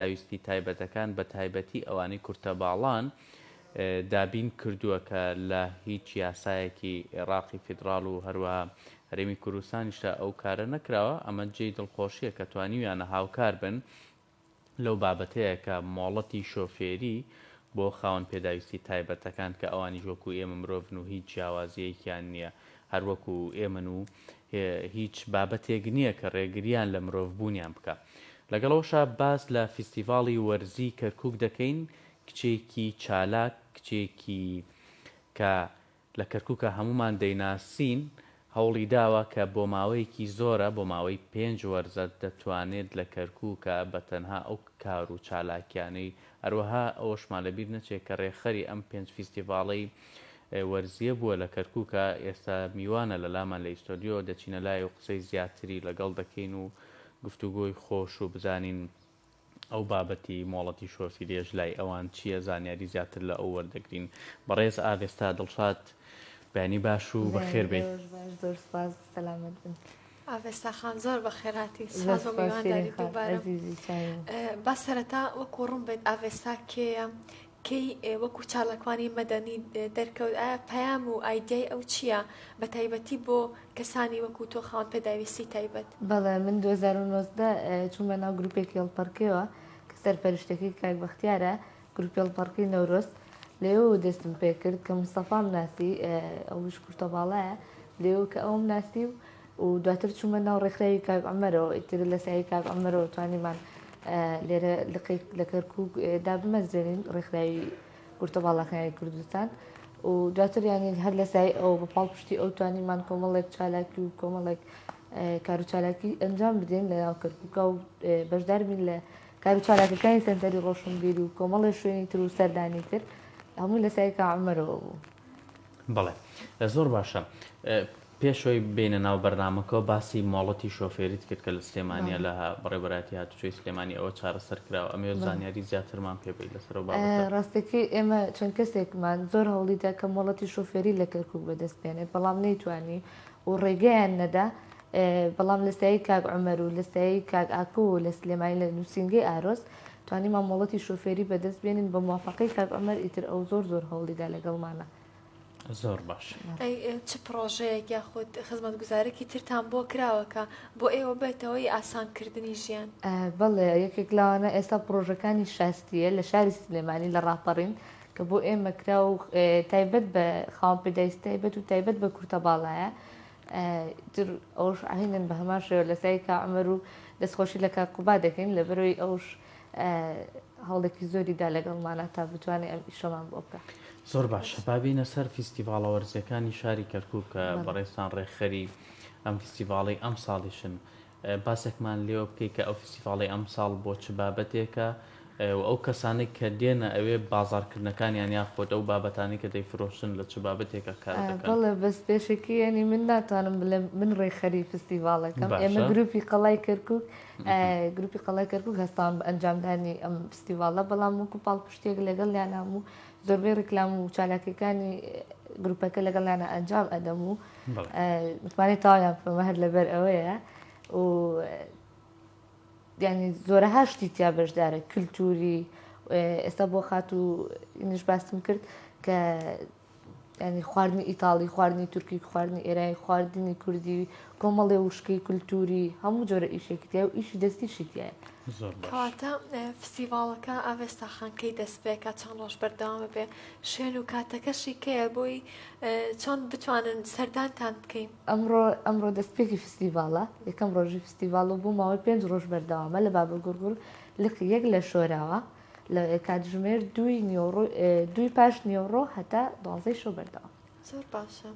پێداویستی تایبەتەکان بە تایبەتی ئەوانەی کورتە باڵان دابین کردووە کە لە هیچ یاسایەکی ئێڕاقی فیدڕاڵ و هەروەها هەرێمی کوردستانیشدا ئەو کارە نەکراوە، ئەمە جێی دڵخۆشییە کە توانیویانە هاوکار بن لەو بابەتەیە کە مۆڵەتی شۆفێری بۆ خاوەن پێداویستی تایبەتەکان کە ئەوانیش وەکوو ئێمە مرۆڤن و هیچ جیاوازییەکیان نییە هەر وەکوو ئێمەن و هیچ بابەتێک نییە کە ڕێگرییان لە مرۆڤ بوونیان بکا. لەگەڵ ئەوەشا باس لە فیستیڤاڵی وەرزیی کەرکووک دەکەین، کچێکی چالاک، کچێکی کە لە کەرکووکا هەموومان دەیناسین، هەوڵی داوە کە بۆ ماوەیەکی زۆرە، بۆ ماوەی پێنج وەرزە دەتوانێت لە کەرکووکا بە تەنها ئەو کار و چالاکییانەی، هەروەها ئەوەشمان لە بیر نەچێت کە ڕێکخەری ئەم پێنج فیستیڤاڵەی وەرزیە بووە لە کەرکوکە ئێستا میوانە لە لامان لە ئیستۆدیۆ دەچینە لای و قسەی زیاتری لە گەڵ دەکەین و گفتوگۆی خۆش و بزانین ئەو بابەتی مۆڵەتی شۆفیریەش لای ئەوان چیە زانیاری زیاتر لە ئەو وەردەگرین بەڕێز ئاڤێستا دڵشاد بەیانی باش و بەخێر بێی. ڕۆژ باش زۆر سوپاس سەلامەت بن. ئاڤێستا خان زۆر بەخێر هاتی سوپاس بۆ میوانداری دووبارەم با سەرەتا وەکو ڕوون بێت ئاڤێستا کێیە کەی وەکو چالاکوانی مەدەنی دەرکەوت؟ ئایا پەیام و ئایدیای ئەو چییە، بەتایبەتی بۆ کەسانی وەکو تۆ خاوەن پێداویستی تایبەت؟ بەڵێ، من دوو هەزار و نۆزدە چوومە ناو گروپێکی هەڵپەڕکێوە کە سەرپەرشتەکەی کاک بەختیارە، گروپی هەڵپەڕکێی نەورۆز، لەوێوە دەستم پێکرد کە مستەفام ناسی، ئەویش کورتەباڵایە، لەوێوە کە ئەوم ناسی و و دواتر چوومە ناو ڕێکخراوی کاک عومەرەوە ئیتر لە سایەی کاک عومەرەوە توانیمان لێرە لقێک لە کەرکووک دابمەزرێنین ڕێکخراوی کورتە باڵاکانی کوردستان و دواتر یانی هەر لە سای ئەو بە پاڵپشتی ئەو توانیمان کۆمەڵێک چالاکی و کۆمەڵێک کار و چالاکی ئەنجام بدەین لە ناو کەرکووکە و بەشدار بین لە کار و چالاکەکانی سەنتەری ڕۆشنبیری و کۆمەڵی شوێنی تر و سەردانی تر هەمووی لە سایکە عمەرەوە بوو بەڵێ زۆر باشە پێش ئەوەی بێینە ناو بەرنامەکەوە باسی مۆڵەتی شۆفێریت کرد کە لە سلێمانیە لە بەڕێوبەرایەتی هاتوچۆی سلێمانی ئەوە چارەسەر کراوە ئەمەوێت زانیاری زیاترمان پێ بەیت لەسەر ئەو بابەتە. ڕاستەکەی ئێمە چەند کەسێکمان زۆر هەوڵی دا کە مۆڵەتی شۆفێری لە کەرکوک بەدەست بێنێت بەڵام نەیتوانی و ڕێگەیان نەدا بەڵام لە سایەی کاک عومەر و لە سایەی کاک ئاکۆ و لە سلێمانی لە نوسینگەی ئارۆس توانیمان مۆڵەتی شۆفێری بەدەست بێنین بە موافەقەی کاک عومەر ئیتر ئەو زۆر زۆر هەوڵی دا لەگەڵمانە زۆر باش چ پڕۆژەیەک یاخود خزمەتگوزارێکی ترتان بۆ کراوەکە بۆ ئێوە بێتەوەی ئاسانکردنی ژیان بەڵێ یەکێک لاوانە ئێستا پرۆژەکانی شاستیە لە شاری سلێمانی لە ڕاپەڕین کە بۆ ئێمە کرا و تایبەت بە خاوەن پێداویست تایبەت و تایبەت بە کورتە باڵایە تر ئەوش ئاهینن بە هەمان شێوە لەسای کە ئەمەر و دەستخۆشی لە کاکوبا دەکەین لە بەرەوەی ئەوش هەوڵێکی زۆری دا لەگەڵمانا تا بتوانێ ئەم ئیشەمان بۆ بکا. زۆر باشە با بێینە سەر فیستیڤاڵە وەرزیەکانی شاری کەرکوک کە بەڕێزتان ڕێکخەری ئەم فیستیڤاڵەی ئەمساڵیشن باسێکمان لێوە بکەی کە ئەو فیستیڤاڵی ئەمساڵ بۆ چ بابەتێکە و ئەو کەسانەی کە دێنە ئەوێ بازاڕکردنەکانیان یاخود ئەو بابەتانی کە دەیفرۆشن لە چ بابەتێکە کار دەکەن. بەڵێ بەس پێشەکی یەنی من ناتوانم بڵێم من ڕێکخەری فیستیڤاڵەکەم ئێمە گروپی قەڵای کەرکوک گروپی قەڵای کەرکوک هەستاون بە ئەنجامدانی ئەم فستیڤاڵە بەڵام وەکو پاڵپشتێک لەگەڵیان هەموو زۆربەی ڕیکلام و چالاکیەکانی گروپەکە لەگەڵیانە ئەنجام ئەدەم و متمانەی تاویان پێمە هەر لەبەر ئەوەیە و ینی زۆرە هاشتی تیا بەشدارە کللتوری ئێستا بۆ خات و نیش باسم کرد کە یانی خواردنی ئیتاڵی خواردنی تورکی خواردنی ئێرانی خواردنی کوردی کۆمەڵێ وشکی کولتوری هەموو جۆرە ئیشێکتیا و ئیشی دەستی شتیە کەواتە فستیڤالەکە ئاوێستا خانکەی دەستپێکە چەند ڕۆژ بەردەوامە بێ شوێن و کاتەکەشی کەیە بۆی چۆن بتوانن سەردانتان بکەین ئەمڕۆ ئەمڕۆ دەستپێکی فستیڤالە یەکەم ڕۆژی فستیڤالە بۆ ماوەی پێنج ڕۆژ بەردەوامە لە بابە گوڕگوڕ لقی یەک لە شۆراوە لە کاتژمێر دووی نیۆڕۆ دووی پاش نیۆڕۆ هەتا دوازەی شەو بەردەوام زۆر باشە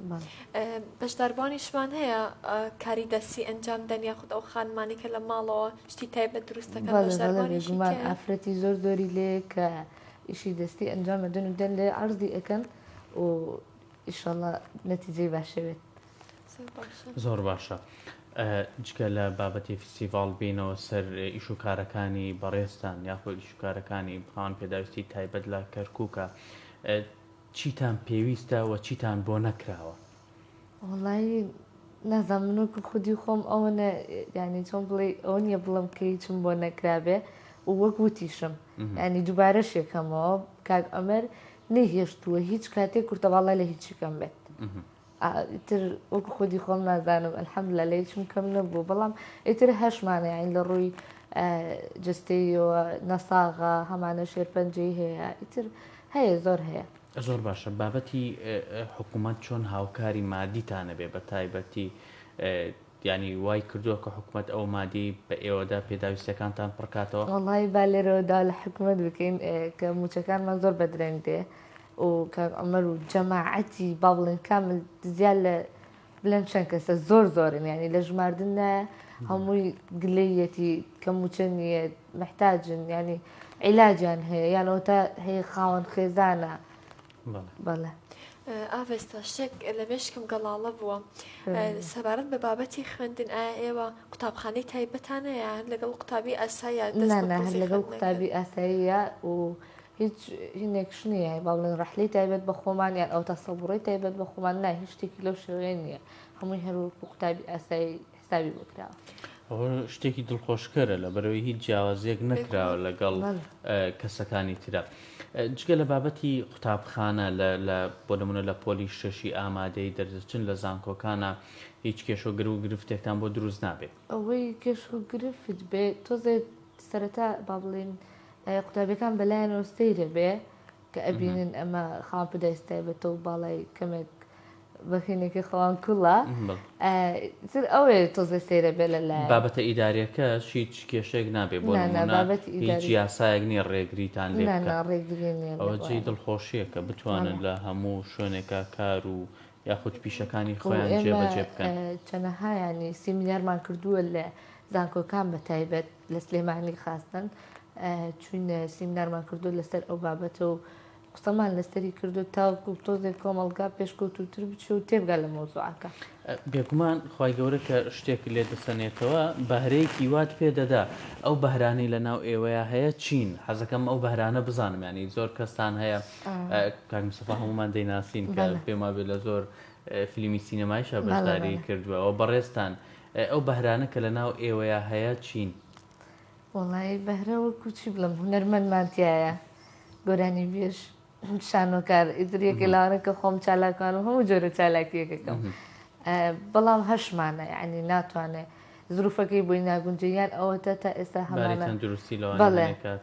بەشداربوانیشمان هەیە کاری دەستی ئەنجام دەنیا خود ئەو خانمانێکە لە ماڵەوە شتی تای بە دروستەکە بەشداربوانیمان ئافرەتی زۆر زۆری لێ کە ئیشی دەستی ئەنجام دەن و دەن لێ عرضی ئەەکەن و ئیشەڵە نەتیجەی باشەوێت زۆر باشە جگە لە بابەتی فیستیڤاڵ بینەوە سەر ئیش و کارەکانی بەڕێزتان یاخود ئیش و کارەکانی بڕان پێداویستی تایبەت لە کەرکووکە چیتان پێویستە و چیتان بۆ نەکراوە وڵی نازان منۆک خودی خۆم ئەوە ینی چۆن بڵێ ئەو نیە بڵم کە هیچم بۆ نەکرابێ وەک وتیشم ینی دووبارە شێکەمەوە کاک ئەمەر نەهێشتووە هیچ کاتێک کورتەواڵە لە هیچی کەم بێت ئیتر وەکو خودی خۆم نازانم الحمدللە لە هیچم کەم نەبوو بەڵام ئیتر هەشت مانەیین لە ڕووی جستەیەوە نەساغە هەمانە شێرپەنجەی هەیە ئیتر هەیە زۆر هەیە زۆر باشە بابەتی حکوومەت چۆن هاوکاری مادیتانە بێ بە تایبەتی ینی وای کردووە کە حکوومەت ئەو مادی بە ئێوەدا پێداویستەکانتان پڕکاتەوە وڵی بالێرەوەدا لە حکوومەت بکەین کە موچەکانمان زۆر بەدرەنگ دێ و کاک عومەر و جەماعەتی باڤڵین کامل زیاد لە بلەن چەند کەسە زۆر زۆرن یعنی لە ژماردن نایە هەمووی گلەیەتی کەم و چەند نیە محتاجن یعنی عیلاجیان هەیە یانەوە تا هەیە خاوەن خێزانە بەڵێ ئاڤێستا شتێک لە مێشکم گەڵاڵە بووە سەبارەت بە بابەتی خوێندن ئایا ئێوە قوتابخانەی تایبەتانەیە لەگەڵ قوتابی ئاسایە لەگەڵ قوتابی ئاساییە و هیچ هینێکش نییە بەڵێن ڕەحلەی تایبەت بە خۆمان یان ئەو تەسەبڕی تایبەت بە خۆمان نا هیچ شتێکی لەو شێوەیە نییە هەمووی هەروەکو قوتابی ئاسایی حسابی بکراوە. ئەوە شتێکی دڵخۆشکەرە لە بەرەوەی هیچ جیاوازیەک نەکراوە لەگەڵ کەسەکانی تررا جگە لە بابەتی قوتابخانە بۆ نمونە لە پۆلی شەشی ئامادەی دەردەچن لە زانکۆکانە هیچ کێش و گر و گرفتێکتان بۆ دروست نابێت ئەوەی کێش و گرفت بێت تۆزێت سەرەتا با بڵین قوتابیەکان بەلایانەوە سەیرە بێ کە ئەبینن ئەمە خاوەن پدایسی تایبەتە و باڵای کەمێک بەخینێکی خەوان کوڵە تر ئەوێ تۆزێ سەیرە بێ لە لای بابەتە ئیدارەکە هیچ کێشێک نابێ بۆ هیچ یاسایەک نیە ڕێگریتان لێ ئەوە جێی دڵخۆشیە کە بتوانن لە هەموو شوێنێکە کار و یاخود پیشەکانی خۆیان جێبەجێ بکەن چەنەهایانی سیمینارمان کردووە لە زانکۆکان بە تایبەت لە سلێمانی خاستەن چوین سیمنارمان کردو لەسەر ئەو بابەتە و قسەمان لەسەری کردو تاوەکو تۆزێک کۆمەڵگا پێشکەوتوتر بچێ و تێبگا لە مۆزوعەکە بێگومان خی گەورە کە شتێک لێ دەسەنێتەوە بەهرەیەکی وات پێ دەدا ئەو بەهرانی لە ناو ئێوەیە هەیە چین حەزەکەم ئەو بەهرانە بزانم ینی زۆر کەستان هەیە کاکمسەفا هەمومان دەیناسین کە پێما بێ لە زۆر فلیمی سینەمایشە بەشداری کردووەوە بەڕێستان ئەی ئەو بەهرانە کە لە ناو ئێوەیا هەیە چین؟ وەڵایی بەهرە وەکو چی بڵێم هونەرمەندمان تیایە گۆرانی بێژ شانۆکار ئیتر یەکێ لاوانە کە خۆم چالاکوانم هەموو جۆرە چالاکیەکەکەم بەڵام هەشمانە ینی ناتوانێت زروفەکەی بۆی ناگونجێ یان ئەوەتە تا ئێستا هەمانە دروستی لەوانەکات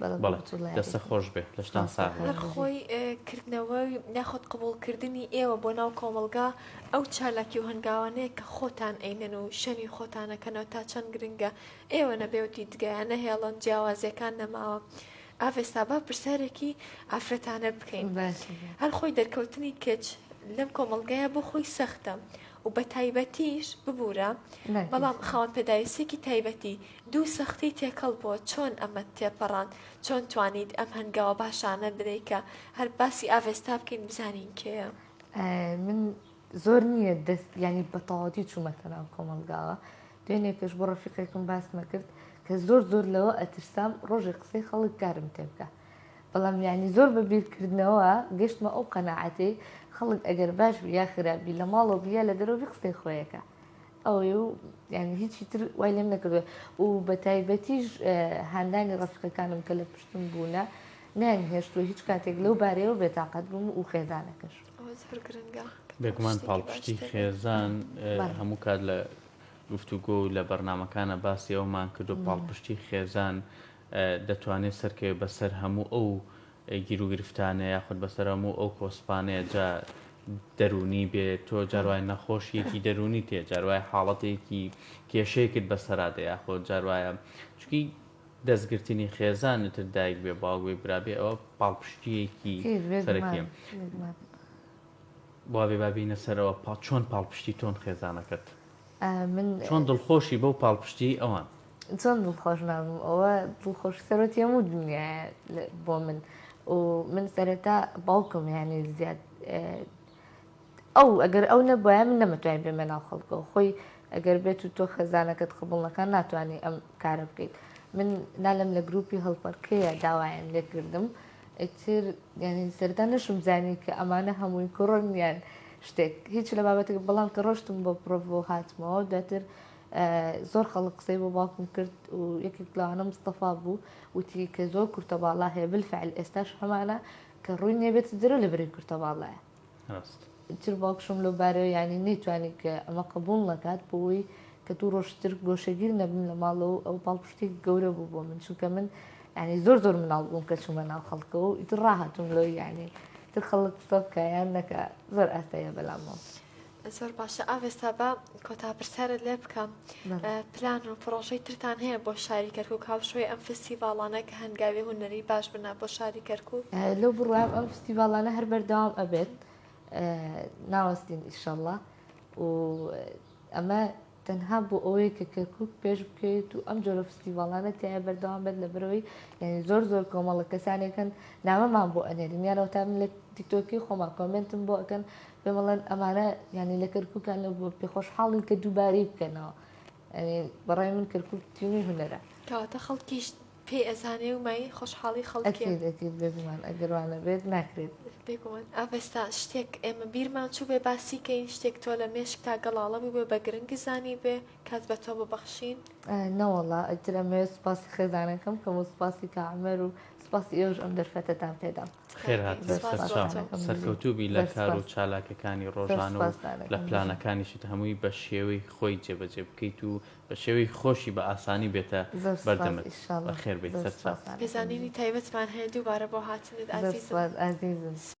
بەڵێ دەستە خۆش بێ لەشتان سا خۆی کردنەوەی ناخود قبولکردنی ئێوە بۆ ناو کۆمەلگا ئەو چالاکی و هەنگاوانەیە کە خۆتان ئەینەن و شەنی خۆتانەکەنەوە تا چەند گرنگە ئێوە نەبێو دیدگایە نەهێڵن جیاوازیەکان نەماوە. ئاڤێستا با پرسیارێکی ئافرەتانە بکەین هەر خۆی دەرکەوتنی کچ لەم کۆمەلگایە بۆ خۆی سەختە و بە تایبەتیش ببوورە بەڵام خاوەن پێداویستێکی تایبەتی دوو سەختی تێکەڵ بووە چۆن ئەمەت تێپەڕاند؟ چۆن توانیت ئەم هەنگاوە باشانە بنێی کە هەر باسی ئاڤێستا بکەین بزانین کێیە؟ من زۆر نییە دەست یعنی بە تەواوەتی چوومەتە ناو کۆمەڵگاوە دوێنێ پێش بۆ ڕەفیقێکم باسمە کرد کە زۆر زۆر لەوە ئەترسام ڕۆژێک قسەی خەڵک کارم تێ بکە بەڵام یعنی زۆر بە بیرکردنەوە گەشتمە ئەو قەنەعاتەی خەڵک ئەگەر باش بی یا خراپبی لە ماڵەوە بی یا لە دەرەوە بی قسەی خۆیەکە ئەوەیە و یانی هیچی تر وای لێم نەکردووە و بە تایبەتیش هاندانی ڕەفیقەکانم کە لە پشتم بوونە نیان هێشتووە هیچ کاتێک لەو بارەیەوە بێتاقەت بووم و خێزانەکەش بێگومان پاڵپشتی خێزان هەموو کات لە گفتوگۆ و لە بەرنمەکانە باسی ئەومان کردو پاڵپشتی خێزان دەتوانێت سەرکەوێت بەسەر هەموو ئەو گیروگرفتانە یاخود بەسەر هەموو ئەو کۆسپانەیە جا دەروونی بێت تۆ جاروای نەخۆشیەکی دەروونی تێ جاروای حاڵەتێکی کێشەیەکت بەسەرا دێ یاخۆ جاروایە چکی دەستگرتنی خێزانتر دایک بێ باوگوێ برابێ ئەوە پاڵپشتیەکی سەرەکیم بابێ بابینە سەرەوە پا چۆن پاڵپشتی تۆن خێزانەکەت من چۆن دڵخۆشی بەو پاڵپشتی ئەوان چۆن دڵخۆش نابم ئەوە دڵخۆش سەرۆتی هەموو دنیاە بۆ من و من سەرەتا باوکم یانێ زیاد ئەو ئەگەر ئەو نەبایە من نەمەتوای بێمە ناو خەڵکە و خۆی ئەگەر بێت و تۆ خەزانەکەت قبڵەکان ناتوانانی ئەم کارە بکەیت من نالم لە گروپی هەڵپەرکەیە داوایان لێکردم ئەتر یعنی سەردا نەشم زانی کە ئەمانە هەمووی کوڕن یان شتێک هیچ لە بابەتێک بەڵام کە ڕۆشتم بۆ پرۆڤۆ هاتمەوە دواتر زۆر خەڵک قسەی بۆ باوکم کرد و یەکێک لەوانە مستەفا بوو وتی کە زۆر کورتە باڵا هەیە بالفعل ئێستاش هەمانە کە ڕووی نییە بێتە دەرەوە لە بەرەی کورتە باڵایە تر باوکشم لەو بارەوە ینی نەیتوانی کە ئەمە قبول نەکات بۆی کە دوو ڕۆژتر گۆشەگیر نەبم لە ماڵەوە ئەو پاڵپشتی گەورە بوو بۆ من چونکە من ینی زۆر زۆر مناڵ بووم کە چوومە ناو خەڵکەوە و ئیتر ڕاهاتوم لەو یعنی تر خەڵک قسە بکە یان نەکە زۆر ئاستەیە بەلامەوە. زۆر باشە ئاێستا بە کۆتا پرسیارت لێ بکەم پلان و پرۆژەی ترتان هەیە بۆ شاری کەرکک هاوشۆی ئەم فستیڤاڵانە کە هەنگاوی هوەری باش بنا بۆ شاری کەرکک لەو بڕام ئەم فستیڤاڵانە هەر بەردەوام ئەبێت ناوەستین ئیشەڵە و ئەمە تەنها بۆ ئەوەیە کە کەرکوک پێش بکەوێت و ئەم جۆرە فستیڤاڵانە تیایە بەردەوام بێت لەبەرەوەی یانی زۆر زۆر کۆمەڵە کەسانێک هەن نامەمان بۆ ئەنێرن یان ئەوتا من لە تیکتۆکی خۆمان کۆمێنتم بۆ ئەکەن پێم ئەڵێن ئەمانە یانی لە کەرکوکان لە بۆ پێ خۆشحاڵین کە دووبارەی بکەنەوە یانی بەڕای من کەرکوک تینووی هونەرە کەواتە خەڵکیش پێی ئەزانێ و مای خۆشحاڵی خەڵکێ. ئەکید ئەکید بێگومان ئەگەر وا نەبێت ناکرێت. بێگومان ئاڤێستا شتێک ئێمە بیرمان چووبێ باسی کەین شتێک تۆ لە مێشکتا گەڵاڵە بووبێ بە گرنگ زانیبێ کات بە تۆ ببەخشین. نەوەڵا ئیتر ئەمەوێ سوپاسی خێزانەکەم کەم و سوپاسی کا عومەر و سوپاسی ئێوەش ئەم دەرفەتەتان پێدام. خێر هاتن سەر چاو. سەرکەوتوو بی لە کار و چالاکەکانی ڕۆژانە و لە پلانەکانیشت هەمووی بە شێوەی خۆی جێبەجێ بکەیت و بە شێوەیەکی خۆشی بە ئاسانی بێتە بەردەمت. بەخێربێیت سەرچاو. پێزانینی تایبەتمان هەیە دووبارە بۆ هاتنت ئازیزم.